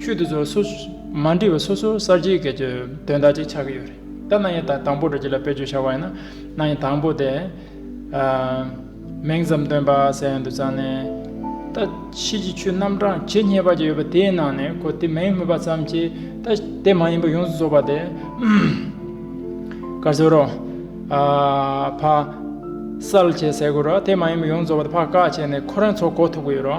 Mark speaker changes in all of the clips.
Speaker 1: ཆོས་འདི་ཚོར་སོ། མ་འདྲིས་པ་སོ་སོར་གསར་བརྗེའི་སྐད་ཆ་དོན་དག་ཅིག་ཆགས་ཀྱི་ཡོད་རེད་ད། གནའ་ཡན་དང་དང་པོ་རེད་ཅེས་ལ་དཔེ་བརྗོད་བྱ་བ་ཡིན་ན། གནའ་ཡན་དང་པོ་དེ། མིང་ཙམ་སྟོན་པ་ཟེར་ཡོང་དུ་བཅངས་ནས། ད་ཕྱིས་ཀྱི་ཆོས་རྣམ་གྲངས་ཇི་སྙེད་པ་ཅིག་ཡོད་པ་དེའི་ནང་ནས་ཁོ་དེ་མིན་སྨོས་པ་ཙམ་གྱིས་ད་དེ་མ་ཡིན་པ་ཡོངས་སུ་རྫོགས་པ་དེ། ག་ཟེར་རོ། ཕ། གསལ་བྱེད་ཟེར་དགོས་རོ་དེ་མ་ཡིན་པ་ཡོངས་སུ་རྫོགས་པ་དེ་ཕ་བཀག་བྱས་ནས་ཁོ་རང་ཚོ་གོ་ཐུབ་ཀྱི་ཡོད་རོ།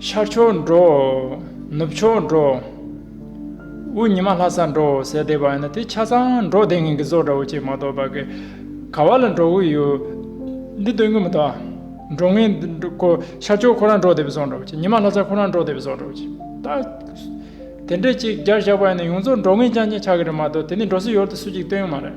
Speaker 1: ཤར་ཕྱོགས་འགྲོ། ནུབ་ཕྱོགས་འགྲོ། དབུས་ཉི་མ་ལྷ་ས་འགྲོ་ཟེར་བསྡད་པ་ཡིན་ན་དེ་ཆ་ཚང་འགྲོ་བསྡད་མཁན་གྱི་བཟོ་འདྲ་བོ་ཅིག་མ་གཏོགས་བ་གི། ག་བ་ལ་འགྲོ་གི་ཡོད། འདི་སྟོན་གི་མི་འདུག་ཨ། འགྲོ་མཁན་འདི་ཁོ་ཤར་ཕྱོགས་ཁོ་རང་འགྲོ་བསྡད་པའི་བཟོ་འདྲ་བོ་ཅིག་ཉི་མ་ལྷ་ས་ཁོ་རང་འགྲོ་བསྡད་པའི་བཟོ་འདྲ་བོ་ཅིག་ད། དེ་འདྲས་ཅིག་རྒྱར་བཞག་པ་ཡིན་ན་ཡོངས་རྫོགས་འགྲོ་མཁན་རྐྱང་རྐྱང་ཆགས་གི་རེད་མ་གཏོགས་དེ་ནས་འགྲོ་སྲིད་ཡོད་དུ་སུ་གཅིག་སྟོན་གི་མ་རེད།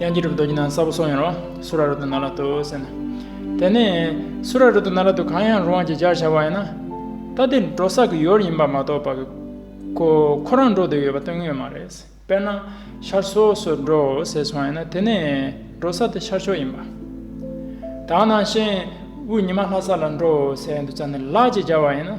Speaker 1: དབྱངས་ཀྱི་གྲུབ་རྡོ་རྗེ་ནང་གསལ་པོ་སོགས་ཡང་རོ། སུ་ར་རོ་ཏི་ན་ལ་ཏུ་ཟེར་ན། དེ་ནས། སུ་ར་རོ་ཏི་ན་ལ་ཏུ་གང་ཡང་རུང་བ་ཅིག་སྦྱར་བྱ་བ་ཡིན་ན། ད་དེ་འགྲོ་ས་གི་ཡོར་ཡིན་པ་མ་གཏོགས་པ། ཁོ་ཁོ་རང་འགྲོ་འདོད་ཡོད་པ་སྟོན་ངེས་མ་རེད། དཔེར་ན། ཤར་ཕྱོགས་སུ་འགྲོ་ཟེར་སོང་ཡིན་ན་དེ་ནས། འགྲོ་ས་དེ་ཤར་ཕྱོགས་ཡིན་པ། དག་ནང་བཞིན། དབུས་ཉི་མ་ལྷ་ས་ལ་འགྲོ་ཟེར་ཡང་འདུག་ཙང་ནི་ལགས་ཅེས་སྦྱར་བ་ཡིན་ན།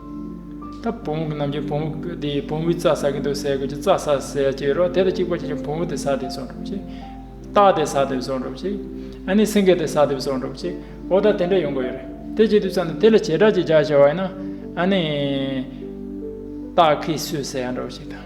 Speaker 1: ད་བུ་མོ་གི་ནམ་རྒྱུན་བུ་མོ་དེས་བུ་མོའི་རྩ་ཟ་གིན་འདུག་ཟས་གོས་ཀྱི་རྩ་ཟ་ཟས་བཅད་རོགས་དེ་ལ་གཅིག་པ་གཅིག་ཀྱང་བུ་མོ་དེ་ཟ་དེ་ཟོ་འགྲོ་ཅིག། སྟག་དེ་ཟ་དེ་ཟོ་འགྲོ་ཅིག། ཨ་ནི་སེང་གེ་དེ་ཟ་དེ་ཟོ་འགྲོ་ཅིག་འོ་ད་དེ་འདྲ་ཡོང་གི་ཡོད་རེད་དེ་བྱེད་དུས་ཙམ་ནས་དེ་ལ་བྱེ་བྲག་གཅིག་རྒྱག་བྱ་བ་ཡིན་ན། ཨ་ནི། སྟག་གིས་སུས་ཟས་ཡ་འགྲོ་ཅིག་དང།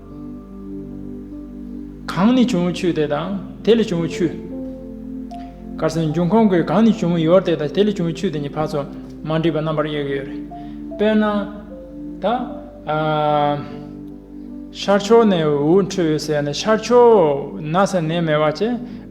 Speaker 1: གང་ནས་བྱུང་བའི་ཆུ་དེ་དང་དེ་ལས་བྱུང་བའི་ཆུ། གར་སོན་འབྱུང་ཁུངས་ཀྱི་གང་ནས་བྱུང་བའི་ཡོར་དེ་དང་དེ་ལས་བྱུང་བའི་ཆུ་དེ་གཉིས་བར་ཚོ་མ་འདྲེས་པ་རྣམ་པར་དབྱེ་གི་ཡོད་རེད། དཔེར་ན། ད། ཤར་ཕྱོགས་ནས་འུར་འུར་འཕྲོས་ཡོད་ཟེར་ན་ཤར་ཕྱོགས་ན་ས་གནས་མེད་བ་བཅས།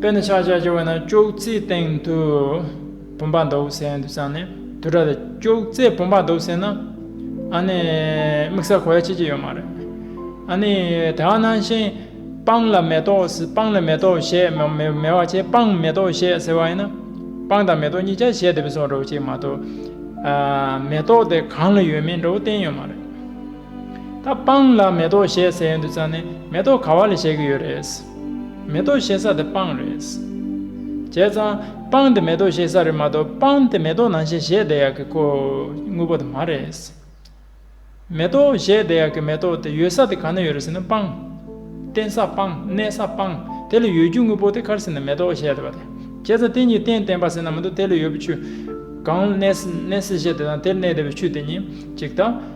Speaker 1: དཔེར་ན་ཆག་ཆག་ཆག་བས་ན་ཅོག་ཙེའི་སྟེང་དུ་བུམ་པ་འདོགས་བསད་དུ་བཅངས་ནས་དུར་ཁྲོད་དུ་ཅོག་ཙེའི་བུམ་པ་འདོགས་བསད་ན་ཨཱ་ནི་དམིགས་བསལ་གོ་ཡ་བྱེད་ཀྱི་ཡོད་མ་རེད། ཨཱ་ནི་དེ་བ་ནང་བཞིན་སྤང་ལ་མེ་ཏོག་སྤང་ལ་མེ་ཏོག་བཞད་མེ་བ་བྱས་སྤང་མེ་ཏོག་བཞད་ཟེར་བ་ཡིན་ན་སྤང་དང་མེ་ཏོག་གཉིས་ཀྱང་བཞད་དེ་བས་སོང་འགྲོ་བ་ཅིག་མ་གཏོགས་མེ་ཏོག་དེ་གང་ལ་ཡོད་མིན་འགྲོ་བ་བསྟན་ཡོད་མ་རེད། ད་སྤང་ལ་མེ་ཏོག་བཞད་ཟེར་ཡོད་འདུག་ཙང་ནས་མེ་ཏོག་ག་བ་ལས་བཞད་གི་ཡོད་རེད། མེ་ཏོག་བཞད་ས་དེ་སྤང་རེད། བྱས་ཙང་སྤང་དེ་མེ་ཏོག་བཞད་ས་རེད་མ་གཏོགས་སྤང་དེ་མེ་ཏོག་ནང་བཞིན་བཞད་བསྡད་ཡག་གི་ཁོ་དངོས་པོ་དེ་མ་རེད། མེ་ཏོག་བཞད་བསྡད་ཡག་གི་མེ་ཏོག་དེ་ཡོད་ས་དེ་ག་ན་ཡོད་རེད་ཟེར་ན་སྤང། བརྟེན་ས་སྤང་གནས་ས་སྤང་དེ་ལ་ཡོད་རྒྱུ་དངོས་པོ་དེ་གར་ཟེར་ན་མེ་ཏོག་བཞད་བསྡད་པ་དེ་བྱས་ཙང་དེ་གཉིས་བརྟེན་བརྟེན་པ་ཟེར་ན་མི་འདུག་དེ་ལ་ཡོད་པའི་ཆུ་གང་གནས་ས་བཞད་བསྡད་ཙང་དེར་གནས་བསྡད་པའི་ཆུ་དེ་གཉིས་གཅིག་དང།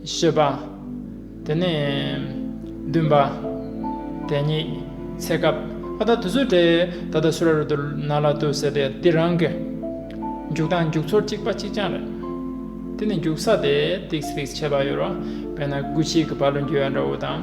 Speaker 1: བཤད་པ། དེ་ནས། བདུན་པ། དེ་ཉིད། ཚེ་སྐབས། ཨ་ད་དུ་ཚོད་དྲེད། ད་ལྟ་སུ་ར་རུ་དུ་ན་ལ་དུ་ཟེར་ཏེ་འདི་རང་གི། རྒྱུག་སྟངས་རྒྱུག་ཚོར་གཅིག་པ་གཅིག་རྐྱང་རེད། དེ་ནི་རྒྱུག་ས་དེ། ཏིགས་ཏིགས་བྱེད་པ་ཡོད་རོ། དཔེར་ན་སྒུལ་བྱེད་ཀྱི་བ་ལུ་འགྱེལ་བ་འདྲ་བོ་དང།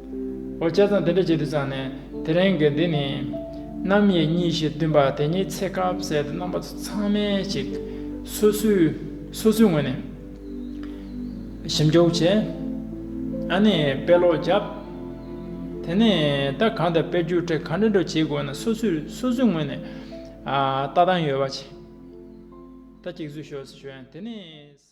Speaker 1: འོ་བྱས་ཙང་དེ་འདྲ་བྱེད་དུ་བཅངས་ནས་དེ་རིང་གི་འདི་ནི། རྣམ་དབྱེ་གཉིས་ཞེས་བསྟུན་པ་དེ་ཉིད་ཚེ་དཀར་བོ་ཟེར་དུ་རྣམ་པ་ཚོ་ཚང་མའི་ཞིག། སོ་སོའི་ངོས་ནས་ཞིབ་འཇུག་བྱས། ཨ་ནས་དཔེ་ཀློག་བརྒྱབ། དེ་ནས་ད་གང་དུ་དཔེ་བསྒྱུར་ཁྲིད་ག་འདྲ་འདྲ་བྱེད་དགོས་ན་སོ་སོའི་ངོས་ནས་ལྟ་སྟངས་ཡོད་པ་བྱས། ད་གཅིག་བཟོས་ཤོག་ཟེར་ཞོར་ཡང་དེ་ནས།